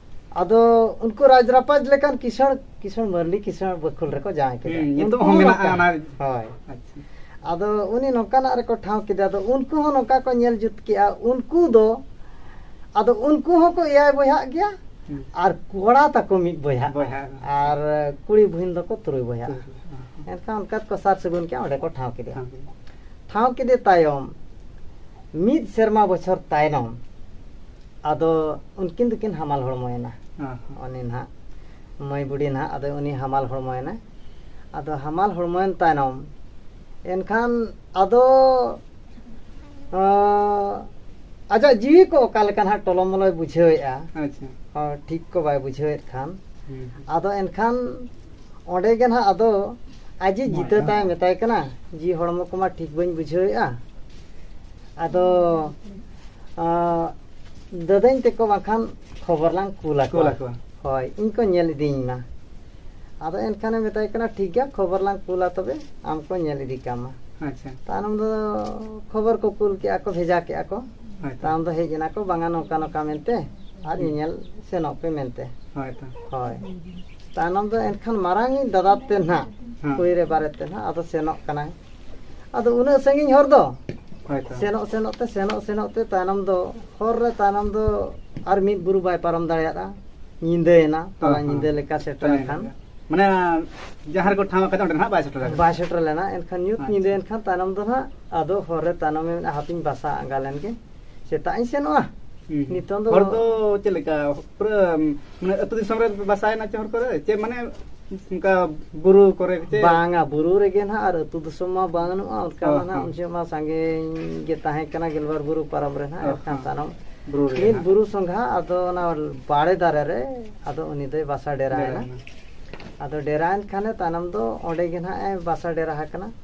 ᱟᱫᱚ ᱩᱱᱠᱩ ᱨᱟᱡᱽ ᱨᱟᱯᱟᱡᱽ ᱞᱮᱠᱟᱱ ᱠᱤᱥᱟᱹᱬ ᱠᱤᱥᱟᱹᱬ ᱢᱟᱹᱨᱞᱤ ᱠᱤᱥᱟᱹᱬ ᱵᱟᱹᱠᱷᱩᱞ ᱨᱮᱠᱚ ᱡᱟᱶᱟᱭ ᱠᱮᱫᱟ ᱱᱤᱛᱚᱜ ᱦᱚᱸ ᱢᱮᱱᱟᱜᱼᱟ ᱚᱱᱟ ᱦᱳᱭ ᱟᱫᱚ ᱩᱱᱤ ᱱᱚᱝᱠᱟᱱᱟᱜ ᱨᱮᱠᱚ ᱴᱷᱟᱶ ᱠᱮᱫᱟ ᱟᱫᱚ ᱩᱱᱠᱩ ᱦᱚᱸ ᱱᱚᱝᱠᱟ ᱠᱚ ᱧᱮᱞ ᱡᱩᱛ ᱠᱮᱜᱼᱟ ᱩᱱᱠᱩ ᱫᱚ ᱟᱫᱚ ᱩᱱᱠᱩ ᱦᱚᱸᱠᱚ ᱮᱭᱟᱭ ᱵᱚᱭᱦᱟᱜ ᱜᱮᱭᱟ ᱟᱨ ᱠᱚᱲᱟ ᱛᱟᱠᱚ ᱢᱤᱫ ᱵᱚᱭᱦᱟ ᱟᱨ ᱠᱩᱲᱤ ᱵᱩᱦᱤᱱ ᱫᱚᱠᱚ ᱛᱩᱨᱩᱭ ᱵᱚᱭᱦᱟ ᱮᱱᱠᱷᱟᱱ ᱚᱱᱠᱟ ᱠᱚ ᱥᱟᱨ ᱥᱟᱹᱜᱩᱱ ᱠᱮᱜᱼᱟ ᱚᱸᱰᱮ ᱠᱚ ᱴᱷᱟᱶ ᱠᱮᱫᱮᱭᱟ ᱴᱷᱟᱶ ᱠᱮᱫᱮ ᱛᱟᱭᱚᱢ ᱢᱤᱫ ᱥᱮᱨᱢᱟ ᱵᱚᱪᱷᱚᱨ ᱛᱟᱭᱱᱚᱢ ᱟᱫᱚ ᱩᱱᱠᱤᱱ ᱫᱚᱠᱤᱱ ᱦᱟᱢᱟᱞ ᱦᱚᱲᱢᱚᱭᱮᱱᱟ ᱩᱱᱤ ᱱᱟᱦᱟᱜ ᱢᱟᱹᱭ ᱵᱩᱰᱷᱤ ᱱᱟᱦᱟᱜ ᱟᱫᱚ ᱩᱱᱤ ᱦᱟᱢᱟᱞ ᱦᱚᱲᱢᱚᱭᱮᱱᱟ ᱟᱫᱚ ᱦᱟᱢᱟᱞ ᱦᱚᱲᱢᱚᱭᱮᱱ ᱛᱟᱭᱱᱚᱢ ᱮᱱᱠᱷᱟᱱ ᱟᱫᱚ ᱟᱡᱟᱜ ᱡᱤᱣᱤ ᱠᱚ ᱚᱠᱟ ᱞᱮᱠᱟ ᱱᱟᱦᱟᱜ ᱴᱚᱞᱚᱢᱚᱞᱚᱭ ᱵᱩᱡᱷᱟᱹᱣᱮᱫᱼᱟ ᱴᱷᱤᱠ ᱠᱚ ᱵᱟᱭ ᱵᱩᱡᱷᱟᱹᱣᱮᱫ ᱠᱷᱟᱱ ᱟᱫᱚ ᱮᱱᱠᱷᱟᱱ ᱚᱸᱰᱮ ᱜᱮ ᱱᱟᱦᱟᱜ ᱟᱫᱚ ᱟᱡᱤᱡ ᱡᱤᱛᱟᱹ ᱛᱟᱭ ᱢᱮᱛᱟᱭ ᱠᱟᱱᱟ ᱡᱤᱣᱤ ᱦᱚᱲᱢᱚ ᱠᱚᱢᱟ ᱴᱷᱤᱠ ᱵᱟᱹᱧ ᱵᱩᱡᱷᱟᱹᱣᱮᱫᱼᱟ ᱟᱫᱚ ᱫᱟᱹᱫᱟᱹᱧ ᱛᱮᱠᱚ ᱵᱟᱝᱠᱷᱟᱱ ᱠᱷᱚᱵᱚᱨ ᱞᱟᱝ ᱠᱩᱞ ᱟᱠᱚᱣᱟ ᱦᱳᱭ ᱤᱧ ᱠᱚ ᱧᱮᱞ ᱤᱫᱤᱧ ᱢᱟ ᱟᱫᱚ ᱮᱱᱠᱷᱟᱱᱮ ᱢᱮᱛᱟᱭ ᱠᱟᱱᱟ ᱴᱷᱤᱠ ᱜᱮᱭᱟ ᱠᱷᱚᱵᱚᱨ ᱞᱟᱝ ᱠᱩᱞᱟ ᱛᱚᱵᱮ ᱟᱢ ᱠᱚ ᱧᱮᱞ ᱤᱫᱤ ᱠᱟᱢᱟ ᱟᱪᱪᱷᱟ ᱛᱟᱭᱱᱚᱢ ᱫᱚ ᱠᱷᱚᱵᱚᱨ ᱠᱚ ᱠᱩᱞ ᱠᱮᱜᱼᱟ ᱠᱚ ᱵᱷᱮᱡᱟ ᱠᱮᱜᱼᱟ ᱠᱚ ᱛᱟᱭᱚᱢ ᱫᱚ ᱦᱮᱡ ᱮᱱᱟ ᱠᱚ ᱵᱟᱝᱟ ᱱᱚᱝᱠᱟ ᱱᱚᱝᱠᱟ ᱢᱮᱱᱛᱮ ᱟᱨ ᱧᱮᱧᱮᱞ ᱥᱮᱱᱚᱜ ᱯᱮ ᱢᱮᱱᱛᱮ ᱦᱳᱭ ᱛᱟᱭᱱᱚᱢ ᱫᱚ ᱮᱱᱠᱷᱟᱱ ᱢᱟᱨᱟᱝ ᱤᱧ ᱫᱟᱫᱟ ᱛᱮ ᱱᱟᱦᱟᱜ ᱠᱩᱲᱤ ᱨᱮ ᱵᱟᱨᱮᱛᱮ ᱱᱟᱦᱟᱜ ᱟᱫᱚ ᱥᱮᱱᱚᱜ ᱠᱟᱱᱟᱭ ᱟᱫᱚ ᱩᱱᱟᱹᱜ ᱥᱟᱺᱜᱤᱧ ᱦᱚᱨ ᱫᱚ ᱥᱮᱱᱚᱜ ᱥᱮᱱᱚᱜ ᱛᱮ ᱥᱮᱱᱚᱜ ᱥᱮᱱᱚᱜ ᱛᱮ ᱛᱟᱭᱱᱚᱢ ᱫᱚ ᱦᱚᱨ ᱨᱮ ᱛᱟᱭᱱᱚᱢ ᱫᱚ ᱟᱨ ᱢᱤᱫ ᱵᱩᱨᱩ ᱵᱟᱭ ᱯᱟᱨᱚᱢ ᱫᱟᱲᱮᱭᱟᱫᱟ ᱧᱤᱫᱟᱹᱭᱮᱱᱟ ᱛᱟᱞᱟ ᱧᱤᱫᱟᱹ ᱞᱮᱠᱟ ᱥᱮᱴᱮᱨ ᱞᱮᱱᱠᱷᱟᱱ ᱢᱟᱱᱮ ᱡᱟᱦᱟᱸ ᱨᱮᱠᱚ ᱴᱷᱟᱶ ᱟᱠᱟᱫᱟ ᱚᱸᱰᱮ ᱱᱟᱦᱟᱜ ᱵᱟᱭ ᱥᱮᱴᱮᱨ ᱵᱟᱭ ᱥᱮᱴᱮᱨ ᱞᱮᱱᱟ ᱮᱱᱠᱷᱟᱱ ᱧᱩᱛ ᱧᱤᱫᱟᱹᱭᱮᱱ ᱠᱷᱟᱱ ᱛᱟᱭᱱᱚᱢ ᱫᱚ ᱱᱟᱦᱟᱜ ᱟᱫᱚ ᱦᱚᱨ ᱨᱮ ᱛᱟᱭᱱᱚᱢ ᱢᱮᱱᱟᱜᱼᱟ ᱦᱟᱯᱮᱧ ᱵᱟᱥᱟ ᱟᱸᱜᱟ ᱞᱮᱱᱜᱮ ᱥᱮᱛᱟᱜ ᱤᱧ ᱥᱮᱱᱚᱜᱼᱟ ᱱᱤᱛᱚᱝ ᱫᱚ ᱦᱚᱲ ᱫᱚ ᱪᱮᱫ ᱞᱮᱠᱟ ᱯᱩᱨᱟᱹ ᱢᱟᱱᱮ ᱟᱹᱛᱩ ᱫᱤᱥᱚᱢ ᱨᱮ ᱵᱟᱥᱟᱭᱮᱱᱟ ᱪᱮ ᱦᱚᱲ ᱠᱚᱨᱮ ᱪᱮ ᱢᱟᱱᱮ ᱚᱱᱠᱟ ᱵᱩᱨᱩ ᱠᱚᱨᱮ ᱪᱮ ᱵᱟᱝᱟ ᱵᱩᱨᱩ ᱨᱮᱜᱮ ᱱᱟᱦᱟᱜ ᱟᱨ ᱟᱹᱛᱩ ᱫᱤᱥᱚᱢ ᱢᱟ ᱵᱟᱹᱱᱩᱜᱼᱟ ᱚᱱᱠᱟ ᱢᱟ ᱱᱟᱦᱟᱜ ᱩᱱ ᱡᱚᱦᱚᱜ ᱢᱟ ᱥᱟᱸᱜᱮᱧ ᱜᱮ ᱛᱟᱦᱮᱸ ᱠᱟᱱᱟ ᱜᱮᱞᱵᱟᱨ ᱵᱩᱨᱩ ᱯᱟᱨᱚᱢ ᱨᱮ ᱱᱟᱦᱟᱜ ᱮᱱᱠᱷᱟᱱ ᱛᱟᱭᱱᱚᱢ ᱵᱩᱨᱩ ᱨᱮ ᱢᱤᱫ ᱵᱩᱨᱩ ᱥᱚᱸᱜᱷᱟ ᱟᱫᱚ ᱚᱱᱟ ᱵᱟᱲᱮ ᱫᱟᱨᱮ ᱨᱮ ᱟᱫᱚ ᱩᱱᱤ ᱫᱚᱭ ᱵᱟᱥᱟ ᱰᱮᱨᱟᱭᱮᱱᱟ ᱟᱫᱚ ᱰᱮᱨᱟᱭᱮᱱ ᱠᱷᱟᱱᱮ ᱛᱟᱭᱱᱚᱢ ᱫᱚ ᱚᱸᱰᱮ ᱜᱮ ᱱᱟᱦᱟᱜ ᱮ ᱵᱟᱥᱟ ᱰᱮᱨᱟ ᱟᱠᱟᱱᱟ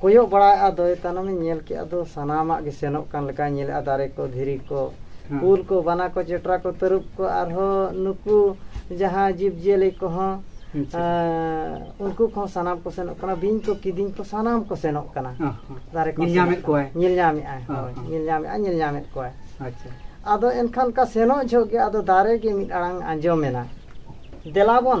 ᱠᱚᱭᱚᱜ ᱵᱟᱲᱟᱭ ᱟᱫᱚᱭ ᱛᱟᱭᱱᱚᱢᱮ ᱧᱮᱞ ᱠᱮᱫ ᱟᱫᱚ ᱥᱟᱱᱟᱢᱟᱜ ᱜᱮ ᱥᱮᱱᱚᱜ ᱠᱟᱱ ᱞᱮᱠᱟᱭ ᱧᱮᱞᱮᱫᱼᱟ ᱫᱟᱨᱮ ᱠᱚ ᱫᱷᱤᱨᱤ ᱠᱚ ᱠᱩᱞ ᱠᱚ ᱵᱟᱱᱟ ᱠᱚ ᱪᱮᱴᱨᱟ ᱠᱚ ᱛᱟᱹᱨᱩᱵ ᱠᱚ ᱟᱨᱦᱚᱸ ᱱᱩᱠᱩ ᱡᱟᱦᱟᱸ ᱡᱤᱵᱽ ᱡᱤᱭᱟᱹᱞᱤ ᱠᱚᱦᱚᱸ ᱩᱱᱠᱩ ᱠᱚᱦᱚᱸ ᱥᱟᱱᱟᱢ ᱠᱚ ᱥᱮᱱᱚᱜ ᱠᱟᱱᱟ ᱵᱤᱧ ᱠᱚ ᱠᱤᱫᱤᱧ ᱠᱚ ᱥᱟᱱᱟᱢ ᱠᱚ ᱥᱮᱱᱚᱜ ᱠᱟᱱᱟ ᱫᱟᱨᱮ ᱠᱚ ᱧᱮᱞ ᱧᱟᱢᱮᱫ ᱠᱚᱣᱟᱭ ᱧᱮᱞ ᱧᱟᱢᱮᱫᱼᱟᱭ ᱦᱳᱭ ᱧᱮᱞ ᱧᱟᱢᱮᱫᱼᱟᱭ ᱧᱮᱞ ᱧᱟᱢᱮᱫ ᱠᱚᱣᱟᱭ ᱟᱪᱪᱷᱟ ᱟᱫᱚ ᱮᱱᱠᱷᱟᱱ ᱚᱱᱠᱟ ᱥᱮᱱᱚᱜ ᱡᱚᱦᱚᱜ ᱜᱮ ᱟᱫᱚ ᱫᱟᱨᱮ ᱜᱮ ᱢᱤᱫ ᱟᱲᱟᱝ ᱟᱸᱡᱚᱢᱮᱱᱟ ᱫᱮᱞᱟᱵᱚᱱ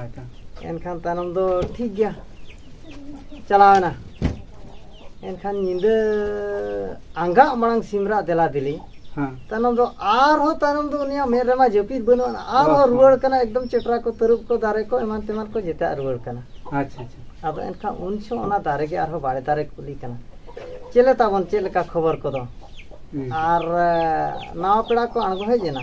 ᱟᱪᱪᱷᱟ ᱮᱱᱠᱷᱟᱱ ᱛᱟᱭᱱᱚᱢ ᱫᱚ ᱴᱷᱤᱠ ᱜᱮᱭᱟ ᱪᱟᱞᱟᱣᱮᱱᱟ ᱮᱱᱠᱷᱟᱱ ᱧᱤᱫᱟᱹ ᱟᱸᱜᱟᱜ ᱢᱟᱲᱟᱝ ᱥᱤᱢ ᱨᱟᱜ ᱫᱮᱞᱟ ᱫᱮᱞᱤ ᱦᱮᱸ ᱛᱟᱭᱱᱚᱢ ᱫᱚ ᱟᱨᱦᱚᱸ ᱛᱟᱭᱱᱚᱢ ᱫᱚ ᱩᱱᱤᱭᱟᱜ ᱢᱮᱫ ᱨᱮᱢᱟ ᱡᱟᱹᱯᱤᱫ ᱵᱟᱹᱱᱩᱜ ᱟᱱᱟ ᱟᱨᱦᱚᱸ ᱨᱩᱣᱟᱹᱲ ᱠᱟᱱᱟ ᱮᱠᱫᱚᱢ ᱪᱮᱴᱨᱟ ᱠᱚ ᱛᱟᱹᱨᱩᱵ ᱠᱚ ᱫᱟᱨᱮ ᱠᱚ ᱮᱢᱟᱱ ᱛᱮᱢᱟᱱ ᱠᱚ ᱡᱮᱛᱮᱭᱟᱜ ᱨᱩᱣᱟᱹᱲ ᱠᱟᱱᱟ ᱟᱪᱪᱷᱟ ᱟᱪᱪᱷᱟ ᱟᱫᱚ ᱮᱱᱠᱷᱟᱱ ᱩᱱ ᱡᱚᱦᱚᱜ ᱚᱱᱟ ᱫᱟᱨᱮ ᱜᱮ ᱟᱨᱦᱚᱸ ᱵᱟᱲᱮ ᱫᱟᱨᱮ ᱠᱩᱞᱤ ᱠᱟᱱᱟ ᱪᱮᱫ ᱞᱮ ᱛᱟᱵᱚᱱ ᱪᱮᱫ ᱞᱮᱠᱟ ᱠᱷᱚᱵᱚᱨ ᱠᱚᱫᱚ ᱟᱨ ᱱᱟᱣᱟ ᱯᱮᱲᱟ ᱠᱚ ᱟᱬᱜᱚ ᱦᱮᱡ ᱮᱱᱟ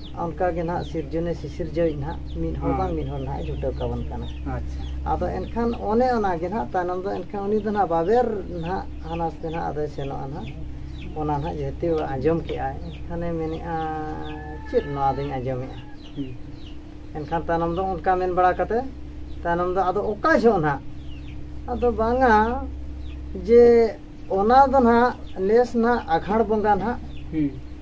ᱚᱱᱠᱟ ᱜᱮ ᱱᱟᱦᱟᱜ ᱥᱤᱨᱡᱚᱱᱮ ᱥᱤᱥᱤᱨᱡᱟᱹᱣᱤᱡ ᱱᱟᱦᱟᱜ ᱢᱤᱫ ᱦᱚᱲ ᱵᱟᱝ ᱢᱤᱫ ᱦᱚᱲ ᱱᱟᱦᱟᱜ ᱡᱩᱴᱟᱹᱣ ᱠᱟᱵᱚᱱ ᱠᱟᱱᱟ ᱟᱫᱚ ᱮᱱᱠᱷᱟᱱ ᱚᱱᱮ ᱚᱱᱟ ᱜᱮ ᱱᱟᱦᱟᱜ ᱛᱟᱭᱱᱚᱢ ᱫᱚ ᱮᱱᱠᱷᱟᱱ ᱩᱱᱤ ᱫᱚ ᱱᱟᱦᱟᱜ ᱵᱟᱵᱮᱨ ᱱᱟᱦᱟᱜ ᱦᱟᱱᱟ ᱥᱮ ᱱᱟᱦᱟᱜ ᱟᱫᱚᱭ ᱥᱮᱱᱚᱜᱼᱟ ᱱᱟᱦᱟᱜ ᱚᱱᱟ ᱱᱟᱦᱟᱜ ᱡᱮᱦᱮᱛᱩ ᱟᱸᱡᱚᱢ ᱠᱮᱜᱼᱟᱭ ᱮᱱᱠᱷᱟᱱᱮ ᱢᱮᱱᱮᱜᱼᱟ ᱪᱮᱫ ᱱᱚᱣᱟ ᱫᱚᱧ ᱟᱸᱡᱚᱢᱮᱜᱼᱟ ᱮᱱᱠᱷᱟᱱ ᱛᱟᱭᱱᱚᱢ ᱫᱚ ᱚᱱᱠᱟ ᱢᱮᱱ ᱵᱟᱲᱟ ᱠᱟᱛᱮ ᱛᱟᱭᱱᱚᱢ ᱫᱚ ᱟᱫᱚ ᱚᱠᱟ ᱡᱚᱦᱚᱜ ᱱᱟᱦᱟᱜ ᱟᱫᱚ ᱵᱟᱝᱟ ᱡᱮ ᱚᱱᱟ ᱫᱚ ᱱᱟᱦᱟᱜ ᱱᱮᱥ ᱱᱟᱦᱟᱜ ᱟᱸᱜᱷᱟᱬ ᱵᱚᱸᱜᱟ ᱱᱟᱦᱟᱜ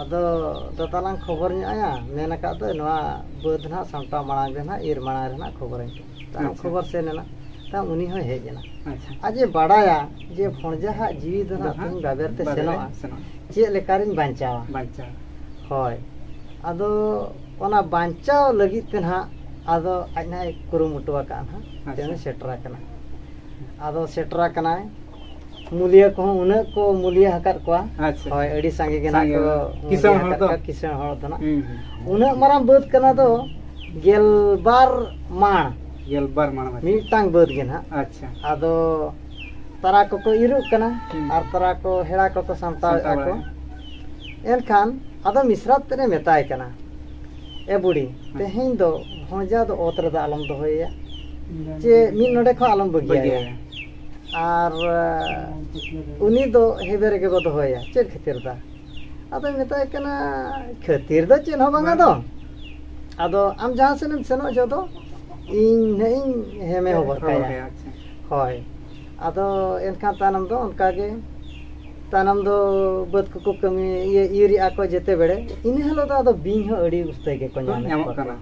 ᱟᱫᱚ ᱫᱟᱫᱟ ᱞᱟᱝ ᱠᱷᱚᱵᱚᱨ ᱧᱚᱜ ᱟᱭᱟ ᱢᱮᱱ ᱟᱠᱟᱫ ᱫᱚᱭ ᱱᱚᱣᱟ ᱵᱟᱹᱫᱽ ᱦᱟᱸᱜ ᱥᱟᱢᱴᱟᱣ ᱢᱟᱲᱟᱝ ᱨᱮ ᱦᱟᱸᱜ ᱤᱨ ᱢᱟᱲᱟᱝ ᱨᱮ ᱦᱟᱸᱜ ᱠᱷᱚᱵᱚᱨᱟᱹᱧ ᱯᱮ ᱛᱟᱭᱚᱢ ᱟᱪᱪᱷᱟ᱾ ᱠᱷᱚᱵᱚᱨ ᱥᱮᱱ ᱮᱱᱟ ᱛᱟᱭᱚᱢ ᱩᱱᱤ ᱦᱚᱸᱭ ᱦᱮᱡ ᱮᱱᱟ ᱟᱪᱪᱷᱟ ᱟᱡᱮ ᱵᱟᱲᱟᱭᱟ ᱡᱮ ᱵᱷᱚᱸᱡᱟ ᱦᱟᱸᱜ ᱡᱤᱣᱤ ᱫᱚ ᱦᱟᱸᱜ ᱛᱤᱧ ᱵᱟᱵᱮᱨ ᱛᱮ ᱵᱟᱵᱮᱨ ᱥᱮᱱᱚᱜᱼᱟ ᱥᱮᱱᱚᱜᱼᱟ ᱪᱮᱫ ᱞᱮᱠᱟᱨᱤᱧ ᱵᱟᱧᱪᱟᱣᱟ ᱵᱟᱧᱪᱟᱣ ᱦᱳᱭ ᱟᱫᱚ ᱚᱱᱟ ᱵᱟᱧᱪᱟᱣ ᱞᱟᱹᱜᱤᱫ ᱛᱮ ᱱᱟᱦᱟᱜ ᱟᱫᱚ ᱟᱡ ᱱᱟᱦᱟᱜ ᱮ ᱠᱩᱨᱩᱢᱩᱴᱩ ᱟᱠᱟᱫᱼᱟ ᱱᱟᱦᱟᱜ ᱟᱪᱪᱷᱟ᱾ ᱛᱮᱦᱮᱧ ᱥᱮᱴᱮᱨ ᱟᱠᱟᱱᱟ ᱟᱫᱚ ᱥᱮᱴᱮᱨ ᱟᱠᱟᱱᱟᱭ ᱢᱩᱞᱤᱭᱟᱹ ᱠᱚᱦᱚᱸ ᱩᱱᱟᱹᱜ ᱠᱚ ᱢᱩᱞᱤᱭᱟᱹ ᱟᱠᱟᱫ ᱠᱚᱣᱟ ᱟᱪᱪᱷᱟ ᱦᱳᱭ ᱟᱹᱰᱤ ᱥᱟᱸᱜᱮ ᱜᱮ ᱱᱟᱜ ᱠᱚ ᱠᱤᱥᱟᱹᱬ ᱦᱚᱲ ᱫᱚ ᱠᱤᱥᱟᱹᱬ ᱦᱚᱲ ᱫᱚ ᱱᱟᱜ ᱩᱱᱟᱹᱜ ᱢᱟᱨᱟᱝ ᱵᱟᱹᱫᱽ ᱠᱟᱱᱟ ᱫᱚ ᱜᱮᱞᱵᱟᱨ ᱢᱟᱬ ᱜᱮᱞᱵᱟᱨ ᱢᱟᱬ ᱢᱤᱫᱴᱟᱝ ᱵᱟᱹᱫᱽ ᱜᱮ ᱱᱟᱜ ᱟᱪᱪᱷᱟ ᱟᱫᱚ ᱛᱟᱨᱟ ᱠᱚᱠᱚ ᱤᱨᱚᱜ ᱠᱟᱱᱟ ᱟᱨ ᱛᱟᱨᱟ ᱠᱚ ᱦᱮᱲᱟ ᱠᱚᱠᱚ ᱥᱟᱢᱴᱟᱣᱮᱫᱼᱟ ᱠᱚ ᱮᱱᱠᱷᱟᱱ ᱟᱫᱚ ᱢᱤᱥᱨᱟᱛ ᱛᱮᱫ ᱮ ᱢᱮᱛᱟᱭ ᱠᱟᱱᱟ ᱮ ᱵᱩᱰᱤ ᱛᱮᱦᱮᱧ ᱫᱚ ᱵᱷᱚᱸᱡᱟ ᱫᱚ ᱚᱛ ᱨᱮᱫᱚ ᱟᱞᱚᱢ ᱫᱚᱦᱚᱭᱮᱭᱟ ᱪᱮ ᱢᱤᱫ ᱱᱚᱰᱮ ᱠᱷᱚᱱ ᱟᱞᱚᱢ ᱵᱟᱹᱜᱤᱭᱟᱭᱟ ᱟᱨ ᱩᱱᱤ ᱫᱚ ᱦᱮᱵᱮ ᱨᱮᱜᱮ ᱵᱚ ᱫᱚᱦᱚᱭᱟ ᱪᱮᱫ ᱠᱷᱟᱹᱛᱤᱨ ᱫᱟ ᱟᱫᱚᱭ ᱢᱮᱛᱟᱭ ᱠᱟᱱᱟ ᱠᱷᱟᱹᱛᱤᱨ ᱫᱚ ᱪᱮᱫ ᱦᱚᱸ ᱵᱟᱝᱟ ᱫᱚ ᱟᱫᱚ ᱟᱢ ᱡᱟᱦᱟᱸ ᱥᱮᱫ ᱮᱢ ᱥᱮᱱᱚᱜ ᱡᱚᱦᱚᱜ ᱫᱚ ᱤᱧ ᱱᱟᱜ ᱤᱧ ᱦᱮᱢᱮ ᱦᱚᱵᱚᱨ ᱠᱟᱭᱟ ᱦᱳᱭ ᱟᱫᱚ ᱮᱱᱠᱷᱟᱱ ᱛᱟᱭᱱᱚᱢ ᱫᱚ ᱚᱱᱠᱟᱜᱮ ᱛᱟᱭᱱᱚᱢ ᱫᱚ ᱵᱟᱹᱫᱽ ᱠᱚᱠᱚ ᱠᱟᱹᱢᱤ ᱤᱭᱟᱹ ᱤᱨᱮᱜᱼᱟ ᱠᱚ ᱡᱮᱛᱮ ᱵᱮᱲᱮ ᱤᱱᱟᱹ ᱦᱤᱞᱳᱜ ᱫᱚ ᱟᱫᱚ ᱵᱤᱧ ᱦᱚᱸ ᱟᱹᱰᱤ ᱩᱥᱛᱟᱹᱭ ᱜᱮᱠᱚ ᱧᱟᱢᱚᱜ ᱠᱟᱱᱟ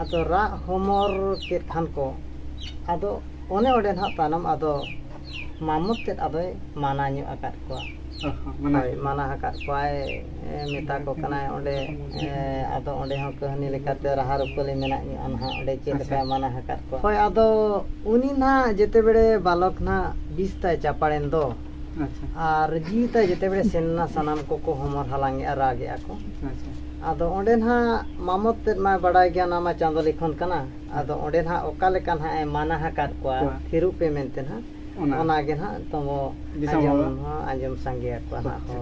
ᱟᱫᱚ ᱨᱟᱜ ᱦᱚᱢᱚᱨ ᱠᱮᱫ ᱠᱷᱟᱱ ᱠᱚ ᱟᱫᱚ ᱚᱱᱮ ᱚᱸᱰᱮ ᱱᱟᱦᱟᱜ ᱛᱟᱭᱱᱚᱢ ᱟᱫᱚ ᱢᱟᱢᱚᱛ ᱛᱮᱫ ᱟᱫᱚᱭ ᱢᱟᱱᱟ ᱧᱚᱜ ᱟᱠᱟᱫ ᱠᱚᱣᱟ ᱦᱳᱭ ᱢᱟᱱᱟ ᱟᱠᱟᱫ ᱠᱚᱣᱟᱭ ᱢᱮᱛᱟ ᱠᱚ ᱠᱟᱱᱟᱭ ᱚᱸᱰᱮ ᱟᱫᱚ ᱚᱸᱰᱮ ᱦᱚᱸ ᱠᱟᱹᱦᱱᱤ ᱞᱮᱠᱟᱛᱮ ᱨᱟᱦᱟ ᱨᱩᱯᱟᱹᱞᱤ ᱢᱮᱱᱟᱜ ᱧᱚᱜᱼᱟ ᱱᱟᱦᱟᱜ ᱚᱸᱰᱮ ᱪᱮᱫ ᱞᱮᱠᱟᱭ ᱢᱟᱱᱟ ᱟᱠᱟᱫ ᱠᱚᱣᱟ ᱦᱳᱭ ᱟᱫᱚ ᱩᱱᱤ ᱱᱟᱦᱟᱜ ᱡᱮᱛᱮ ᱵᱮᱲᱮ ᱵᱟᱞᱚᱠ ᱱᱟᱦᱟᱜ ᱵᱤᱥ ᱛᱟᱭ ᱪᱟᱯᱟᱲᱮᱱ ᱫᱚ ᱟᱪᱪᱷᱟ ᱟᱨ ᱡᱤᱣᱤ ᱛᱟᱭ ᱡᱮᱛᱮ ᱵᱮᱲᱮ ᱥᱮᱱ ᱮᱱᱟ ᱥᱟᱱᱟᱢ ᱠᱚᱠᱚ ᱦᱚᱢᱚᱨ ᱦᱟᱞᱟᱝ ᱮᱜᱼᱟ ᱨᱟᱜ ᱮᱜᱼᱟ ᱠᱚ ᱟᱪᱪᱷᱟ ᱟᱫᱚ ᱚᱸᱰᱮ ᱱᱟᱦᱟᱜ ᱢᱟᱢᱚᱛ ᱛᱮᱫ ᱢᱟᱭ ᱵᱟᱲᱟᱭ ᱜᱮᱭᱟ ᱚᱱᱟ ᱢᱟ ᱪᱟᱸᱫᱚ ᱞᱤᱠᱷᱚᱱ ᱠᱟᱱᱟ ᱟᱫᱚ ᱚᱸᱰᱮ ᱱᱟᱦᱟᱜ ᱚᱠᱟ ᱞᱮᱠᱟ ᱱᱟᱦᱟᱜ ᱮ ᱢᱟᱱᱟ ᱟᱠᱟᱫ ᱠᱚᱣᱟ ᱠᱚᱣᱟ᱾ ᱛᱷᱤᱨᱚᱜ ᱯᱮ ᱢᱮᱱᱛᱮ ᱱᱟᱦᱟᱜ ᱚᱱᱟ᱾ ᱚᱱᱟᱜᱮ ᱱᱟᱦᱟᱜ ᱛᱚᱵᱚ ᱫᱤᱥᱚᱢ ᱟᱸᱡᱚᱢ ᱦᱚᱲ᱾ ᱦᱚᱸ ᱟᱸᱡᱚᱢ ᱥᱟᱸᱜᱮᱭᱟᱠᱚᱣᱟ ᱱᱟᱦᱟᱜ ᱦᱚᱲ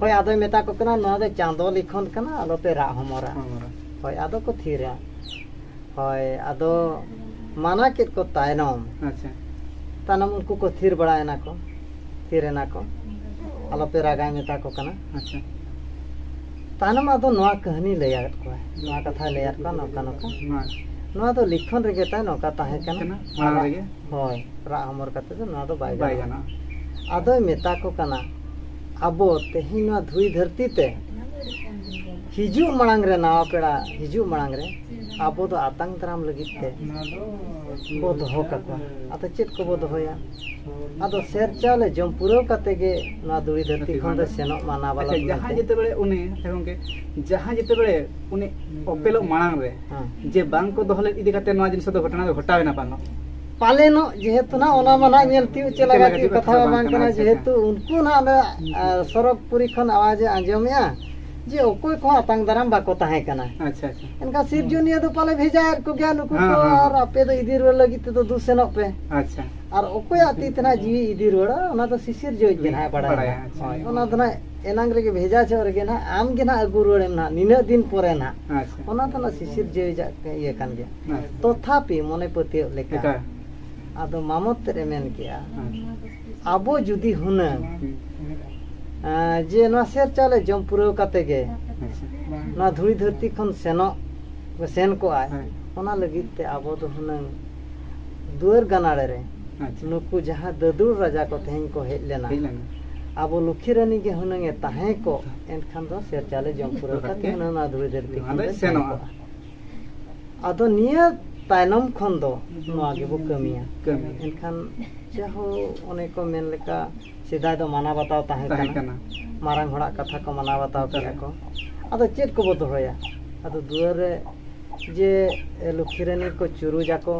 ᱦᱳᱭ ᱟᱫᱚᱭ ᱢᱮᱛᱟ ᱠᱚ ᱠᱟᱱᱟ ᱱᱚᱣᱟ ᱫᱚ ᱪᱟᱸᱫᱚ ᱞᱤᱠᱷᱚᱱ ᱠᱟᱱᱟ ᱟᱞᱚᱯᱮ ᱨᱟᱜ ᱦᱚᱢᱚᱨᱟ ᱦᱳᱭ ᱟᱫᱚ ᱠᱚ ᱛᱷᱤᱨᱟ ᱦᱳᱭ ᱟᱫᱚ ᱢᱟᱱᱟ ᱠᱮᱫ ᱠᱚ ᱛᱟᱭᱱᱚᱢ ᱟᱪᱪᱷᱟ ᱛᱟᱭᱱᱚᱢ ᱩᱱᱠᱩ ᱠᱚ ᱛᱷᱤᱨ ᱵᱟᱲᱟᱭᱮᱱᱟ ᱠᱚ ᱛᱷᱤᱨ ᱮᱱᱟ ᱠᱚ ᱟᱞᱚᱯᱮ ᱨᱟᱜᱟ ᱢᱮᱛᱟ ᱠᱚ ᱠᱟᱱᱟ ᱟᱪᱪᱷᱟ ᱛᱟᱭᱱᱚᱢ ᱟᱫᱚ ᱱᱚᱣᱟ ᱠᱟᱹᱦᱱᱤ ᱞᱟᱹᱭᱟᱫ ᱠᱚᱣᱟ ᱱᱚᱣᱟ ᱠᱟᱛᱷᱟᱭ ᱞᱟᱹᱭᱟᱫ ᱠᱚᱣᱟ ᱱᱚᱝᱠᱟ ᱱᱚᱝᱠᱟ ᱱᱚᱣᱟ ᱫᱚ ᱞᱤᱠᱷᱚᱱ ᱨᱮᱜᱮ ᱛᱟᱭ ᱱᱚᱝᱠᱟ ᱛᱟᱦᱮᱸ ᱠᱟᱱᱟ ᱦᱳᱭ ᱨᱟᱜ ᱦᱚᱢᱚᱨ ᱠᱟᱛᱮ ᱫᱚ ᱱᱚᱣᱟ ᱫᱚ ᱵᱟᱭ ᱜᱟᱱᱚᱜᱼᱟ ᱟᱫᱚᱭ ᱢᱮᱛᱟ ᱠᱚ ᱠᱟᱱᱟ ᱟᱵᱚ ᱛᱮᱦᱮᱧ ᱱᱚᱣᱟ ᱫᱷᱩᱲᱤ ᱫᱷᱟᱹᱨᱛᱤ ᱛᱮ ᱦᱤᱡᱩᱜ ᱢᱟᱲᱟᱝ ᱨᱮ ᱱᱟᱣᱟ ᱯᱮᱲᱟ ᱦᱤᱡᱩᱜ ᱢᱟᱲᱟᱝ ᱨᱮ ᱟᱵᱚ ᱫᱚ ᱟᱛᱟᱝ ᱫᱟᱨᱟᱢ ᱞᱟᱹᱜᱤᱫ ᱛᱮ ᱵᱚ ᱫᱚᱦᱚ ᱠᱟᱠᱚᱣᱟ ᱟᱫᱚ ᱪᱮᱫ ᱠᱚᱵᱚ ᱫᱚᱦᱚᱭᱟ ᱟᱫᱚ ᱥᱮᱨ ᱪᱟᱣᱞᱮ ᱡᱚᱢ ᱯᱩᱨᱟᱹᱣ ᱠᱟᱛᱮ ᱜᱮ ᱱᱚᱣᱟ ᱫᱩᱲᱤ ᱫᱷᱟᱹᱨᱛᱤ ᱠᱷᱚᱱ ᱫᱚ ᱥᱮᱱᱚᱜ ᱢᱟ ᱱᱟ ᱵᱟᱞᱚᱠ ᱟᱪᱪᱷᱟ ᱡᱟᱦᱟᱸᱭ ᱡᱮᱛᱮᱵᱮᱲᱮ ᱩᱱᱤ ᱟᱪᱪᱷᱟ ᱜᱚᱝᱠᱮ ᱡᱟᱦᱟᱸᱭ ᱡᱮᱛᱮᱵᱮᱲᱮ ᱩᱱᱤ ᱚᱯᱮᱞᱚᱜ ᱢᱟᱲᱟᱝ ᱨᱮ ᱡᱮ ᱵᱟᱝ ᱠᱚ ᱫᱚᱦᱚ ᱞᱮᱫ ᱤᱫᱤ ᱠᱟᱛᱮ ᱱᱚᱣᱟ ᱡᱤᱱᱤᱥ ᱫᱚ ᱜᱷᱚᱴᱚᱱᱟ ᱫᱚ ᱜᱷᱚᱴᱟᱣᱮᱱᱟ ᱵᱟᱝ ᱯᱟᱞᱮᱱᱚᱜ ᱡᱮᱦᱮᱛᱩ ᱱᱟ ᱚᱱᱟ ᱢᱟ ᱱᱟᱜ ᱧᱮᱞ ᱛᱤᱭᱳᱜ ᱪᱮᱫ ᱞᱟᱜᱟ ᱛᱤᱭᱳᱜ ᱠᱟᱛᱷᱟ ᱢᱟ ᱵᱟᱝ ᱠᱟᱱᱟ ᱡᱮᱦᱮᱛᱩ ᱩᱱᱠᱩ ᱱᱟᱜ ᱚᱸᱰᱮ ᱥᱚᱨᱚᱜᱽᱯᱩᱨᱤ ᱠᱷᱚᱱ ᱟᱣᱟᱡᱮ ᱟᱸᱡᱚᱢᱮᱜᱼᱟ ᱡᱮ ᱚᱠᱚᱭ ᱠᱚᱦᱚᱸ ᱟᱛᱟᱝ ᱫᱟᱨᱟᱢ ᱵᱟᱠᱚ ᱛᱟᱦᱮᱸ ᱠᱟᱱᱟ ᱟᱪᱪᱷᱟ ᱟᱪᱪᱷᱟ ᱮᱱᱠᱷᱟᱱ ᱥᱤᱨᱡᱚᱱᱤᱭᱟᱹ ᱫᱚ ᱯᱟᱞᱮ ᱵᱷᱮᱡᱟᱭᱮᱫ ᱠᱚᱜᱮᱭᱟ ᱱᱩᱠᱩ ᱦᱮᱸ, ᱠᱚ ᱦᱮᱸ, ᱦᱮᱸ᱾ ᱟᱨ ᱟᱯᱮ ᱫᱚ ᱤᱫᱤ ᱨᱩᱣᱟᱹᱲ ᱞᱟᱹᱜᱤᱫ ᱛᱮᱫᱚ ᱫᱩ ᱥᱮᱱᱚᱜ ᱯᱮ ᱟᱪᱪᱷᱟ ᱟᱨ ᱚᱠᱚᱭᱟᱜ ᱛᱤ ᱛᱮ ᱱᱟᱦᱟᱜ ᱡᱤᱣᱤ ᱤᱫᱤ ᱨᱩᱣᱟᱹᱲᱟ ᱚᱱᱟ ᱫᱚ ᱥᱤᱥᱤᱨ ᱡᱚᱭ ᱜᱮ ᱱᱟᱦᱟᱜ ᱵᱟᱲᱟᱭᱟ ᱵᱟᱲᱟᱭᱟ, ᱟᱪᱪᱷᱟ᱾ ᱦᱳᱭ ᱚᱱᱟ ᱫᱚ ᱱᱟᱦᱟᱜ ᱮᱱᱟᱝ ᱨᱮᱜᱮ ᱵᱷᱮᱡᱟ ᱡᱚᱦᱚᱜ ᱨᱮᱜᱮ ᱱᱟᱦᱟᱜ ᱟᱢ ᱜᱮ ᱱᱟᱦᱟᱜ ᱟᱹᱜᱩ ᱨᱩᱣᱟᱹᱲᱮᱢ ᱱᱟᱦᱟᱜ ᱱᱤᱱᱟᱹᱜ ᱫᱤᱱ ᱯᱚᱨᱮ ᱱᱟᱦᱟᱜ ᱟᱪᱪᱷᱟ ᱚᱱᱟ ᱫᱚ ᱱᱟᱦᱟᱜ ᱥᱤᱥᱤᱨ ᱡᱚᱭ ᱡᱟᱜ ᱤᱭᱟᱹ ᱠᱟᱱ ᱜᱮᱭᱟ ᱟᱪᱪᱷᱟ᱾ ᱛᱚᱛᱷᱟᱯᱤ ᱢᱚᱱᱮ ᱯᱟᱹᱛᱭᱟᱹᱣ ᱞᱮᱠᱟ ᱮᱴᱟᱜ ᱟᱫᱚ ᱢᱟᱢᱚᱛ ᱛᱮᱫ ᱮ ᱢᱮᱱ ᱠᱮᱜᱼᱟ ᱟᱪᱪᱷᱟ ᱟᱵᱚ ᱡᱩᱫᱤ ᱦᱩᱱᱟᱹᱝ ᱡᱮ ᱱᱚᱣᱟ ᱥᱮᱨ ᱪᱟᱣᱞᱮ ᱡᱚᱢ ᱯᱩᱨᱟᱹᱣ ᱠᱟᱛᱮ ᱜᱮ ᱱᱚᱣᱟ ᱫᱷᱩᱲᱤ ᱫᱷᱟᱹᱨᱛᱤ ᱠᱷᱚᱱ ᱥᱮᱱᱚᱜ ᱥᱮᱱ ᱠᱚᱜᱼᱟᱭ ᱚᱱᱟ ᱞᱟᱹᱜᱤᱫ ᱛᱮ ᱟᱵᱚ ᱫᱚ ᱦᱩᱱᱟᱹᱝ ᱫᱩᱣᱟᱹᱨ ᱜᱟᱱᱟᱲᱮ ᱨᱮ ᱱᱩᱠᱩ ᱡᱟᱦᱟᱸ ᱫᱟᱹᱫᱩᱲ ᱨᱟᱡᱟ ᱠᱚ ᱛᱮᱦᱮᱧ ᱠᱚ ᱦᱮᱡ ᱞᱮᱱᱟ ᱟᱵᱚ ᱞᱩᱠᱷᱤ ᱨᱟᱹᱱᱤ ᱜᱮ ᱦᱩᱱᱟᱹᱝ ᱮ ᱛᱟᱦᱮᱸ ᱠᱚᱜ ᱮᱱᱠᱷᱟᱱ ᱫᱚ ᱥᱮᱨ ᱪᱟᱣᱞᱮ ᱡᱚᱢ ᱯᱩᱨᱟᱹᱣ ᱠᱟᱛᱮ ᱦᱩᱱᱟᱹᱝ ᱱᱚᱣᱟ ᱫᱷᱩᱲᱤ ᱫᱷᱟᱹᱨᱛᱤ ᱠᱷᱚᱱ ᱥᱮᱱᱚᱜᱼᱟ ᱟᱫᱚ ᱱᱤᱭᱟᱹ ᱛᱟᱭᱱᱚᱢ ᱠᱷᱚᱱ ᱫᱚ ᱱᱚᱣᱟ ᱜᱮᱵᱚ ᱠᱟᱹᱢᱤᱭᱟ ᱮᱱᱠᱷᱟᱱ ᱡᱟᱦᱳ ᱚᱱᱮ ᱠᱚ ᱢᱮᱱ ᱞᱮᱠᱟ ᱥᱮᱫᱟᱭ ᱫᱚ ᱢᱟᱱᱟᱣ ᱵᱟᱛᱟᱣ ᱛᱟᱦᱮᱸ ᱠᱟᱱᱟ ᱢᱟᱨᱟᱝ ᱦᱚᱲᱟᱜ ᱠᱟᱛᱷᱟ ᱠᱚ ᱢᱟᱱᱟᱣ ᱵᱟᱛᱟᱣ ᱠᱮᱜᱼᱟ ᱠᱚ ᱟᱫᱚ ᱪᱮᱫ ᱠᱚᱵᱚ ᱫᱚᱦᱚᱭᱟ ᱟᱫᱚ ᱫᱩᱣᱟᱹᱨ ᱨᱮ ᱡᱮ ᱞᱚᱠᱠᱷᱤ ᱨᱟᱱᱤ ᱠᱚ ᱪᱩᱨᱩᱡᱟᱠᱚ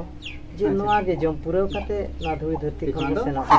ᱡᱮ ᱱᱚᱣᱟ ᱜᱮ ᱡᱚᱢ ᱯᱩᱨᱟᱹᱣ ᱠᱟᱛᱮ ᱱᱚᱣᱟ ᱫᱷᱩᱲᱤ ᱫᱷᱟᱹᱨᱛᱤ ᱠᱷᱚᱱ ᱵᱚ ᱥᱮᱱᱚᱜᱼᱟ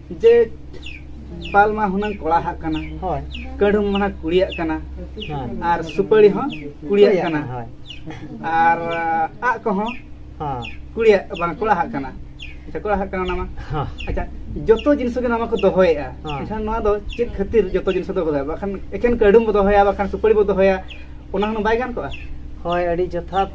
ᱡᱮ ᱯᱟᱞ ᱢᱟ ᱦᱩᱱᱟᱹᱝ ᱠᱚᱲᱟ ᱦᱟᱜ ᱠᱟᱱᱟ ᱦᱳᱭ ᱠᱟᱹᱰᱩᱢ ᱢᱟ ᱠᱩᱲᱤᱭᱟᱜ ᱠᱟᱱᱟ ᱟᱨ ᱥᱩᱯᱟᱹᱲᱤ ᱦᱚᱸ ᱠᱩᱲᱤᱭᱟᱜ ᱠᱟᱱᱟ ᱦᱳᱭ ᱟᱨ ᱟᱜ ᱠᱚᱦᱚᱸ ᱠᱩᱲᱤᱭᱟᱜ ᱵᱟᱝ ᱠᱚᱲᱟ ᱦᱟᱜ ᱠᱟᱱᱟ ᱟᱪᱪᱷᱟ ᱠᱚᱲᱟ ᱦᱟᱜ ᱠᱟᱱᱟ ᱚᱱᱟ ᱢᱟ ᱟᱪᱪᱷᱟ ᱡᱚᱛᱚ ᱡᱤᱱᱤᱥ ᱜᱮ ᱱᱚᱣᱟ ᱠᱚ ᱫᱚᱦᱚᱭᱮᱫᱼᱟ ᱮᱱᱠᱷᱟᱱ ᱱᱚᱣᱟ ᱫᱚ ᱪᱮᱫ ᱠᱷᱟᱹᱛᱤᱨ ᱡᱚᱛᱚ ᱡᱤᱱᱤᱥ ᱫᱚ ᱫᱚᱦᱚᱭᱟ ᱵᱟᱠᱷᱟᱱ ᱮᱠᱷᱮᱱ ᱠᱟᱹᱰᱩᱢ ᱵᱚ ᱫᱚᱦᱚᱭᱟ ᱵᱟᱠᱷᱟᱱ ᱥᱩᱯᱟᱹᱲᱤ ᱵᱚ ᱫᱚᱦᱚᱭᱟ ᱚᱱᱟ ᱦᱚᱸ ᱵᱟᱭ ᱜᱟᱱ ᱠᱚᱜᱼᱟ ᱦᱳᱭ ᱟᱹᱰᱤ ᱡᱚᱛᱷᱟᱛ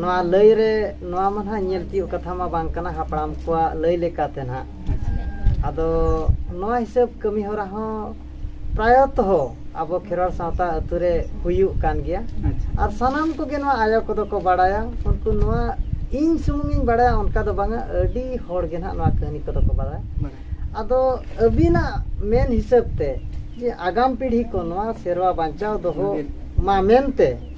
ᱱᱚᱣᱟ ᱞᱟᱹᱭ ᱨᱮ ᱱᱚᱣᱟ ᱢᱟ ᱱᱟᱦᱟᱜ ᱧᱮᱞ ᱛᱤᱭᱳᱜ ᱠᱟᱛᱷᱟ ᱢᱟ ᱵᱟᱝ ᱠᱟᱱᱟ ᱦᱟᱯᱲᱟᱢ ᱠᱚᱣᱟᱜ ᱞᱟᱹᱭ ᱞᱮᱠᱟᱛᱮ ᱱᱟᱦᱟᱜ ᱟᱫᱚ ᱱᱚᱣᱟ ᱦᱤᱥᱟᱹᱵ ᱠᱟᱹᱢᱤ ᱦᱚᱨᱟ ᱦᱚᱸ ᱯᱨᱟᱭᱚᱛᱚ ᱟᱵᱚ ᱠᱷᱮᱨᱣᱟᱲ ᱥᱟᱶᱛᱟ ᱟᱹᱛᱩ ᱨᱮ ᱦᱩᱭᱩᱜ ᱠᱟᱱ ᱜᱮᱭᱟ ᱟᱨ ᱥᱟᱱᱟᱢ ᱠᱚᱜᱮ ᱱᱚᱣᱟ ᱟᱭᱳ ᱠᱚᱫᱚ ᱠᱚ ᱵᱟᱲᱟᱭᱟ ᱩᱱᱠᱩ ᱱᱚᱣᱟ ᱤᱧ ᱥᱩᱢᱩᱝ ᱤᱧ ᱵᱟᱲᱟᱭᱟ ᱚᱱᱠᱟ ᱫᱚ ᱵᱟᱝᱟ ᱟᱹᱰᱤ ᱦᱚᱲ ᱜᱮ ᱱᱟᱦᱟᱜ ᱱᱚᱣᱟ ᱠᱟᱹᱦᱱᱤ ᱠᱚᱫᱚ ᱠᱚ ᱵᱟᱲᱟᱭᱟ ᱟᱫᱚ ᱟᱹᱵᱤᱱᱟᱜ ᱢᱮᱱ ᱦᱤᱥᱟᱹᱵ ᱛᱮ ᱡᱮ ᱟᱜᱟᱢ ᱯᱤᱲᱦᱤ ᱠᱚ ᱱᱚᱣᱟ ᱥᱮᱨᱣᱟ ᱵᱟᱧᱪᱟᱣ ᱫᱚᱦᱚ ᱢᱟ ᱢᱮᱱᱛᱮ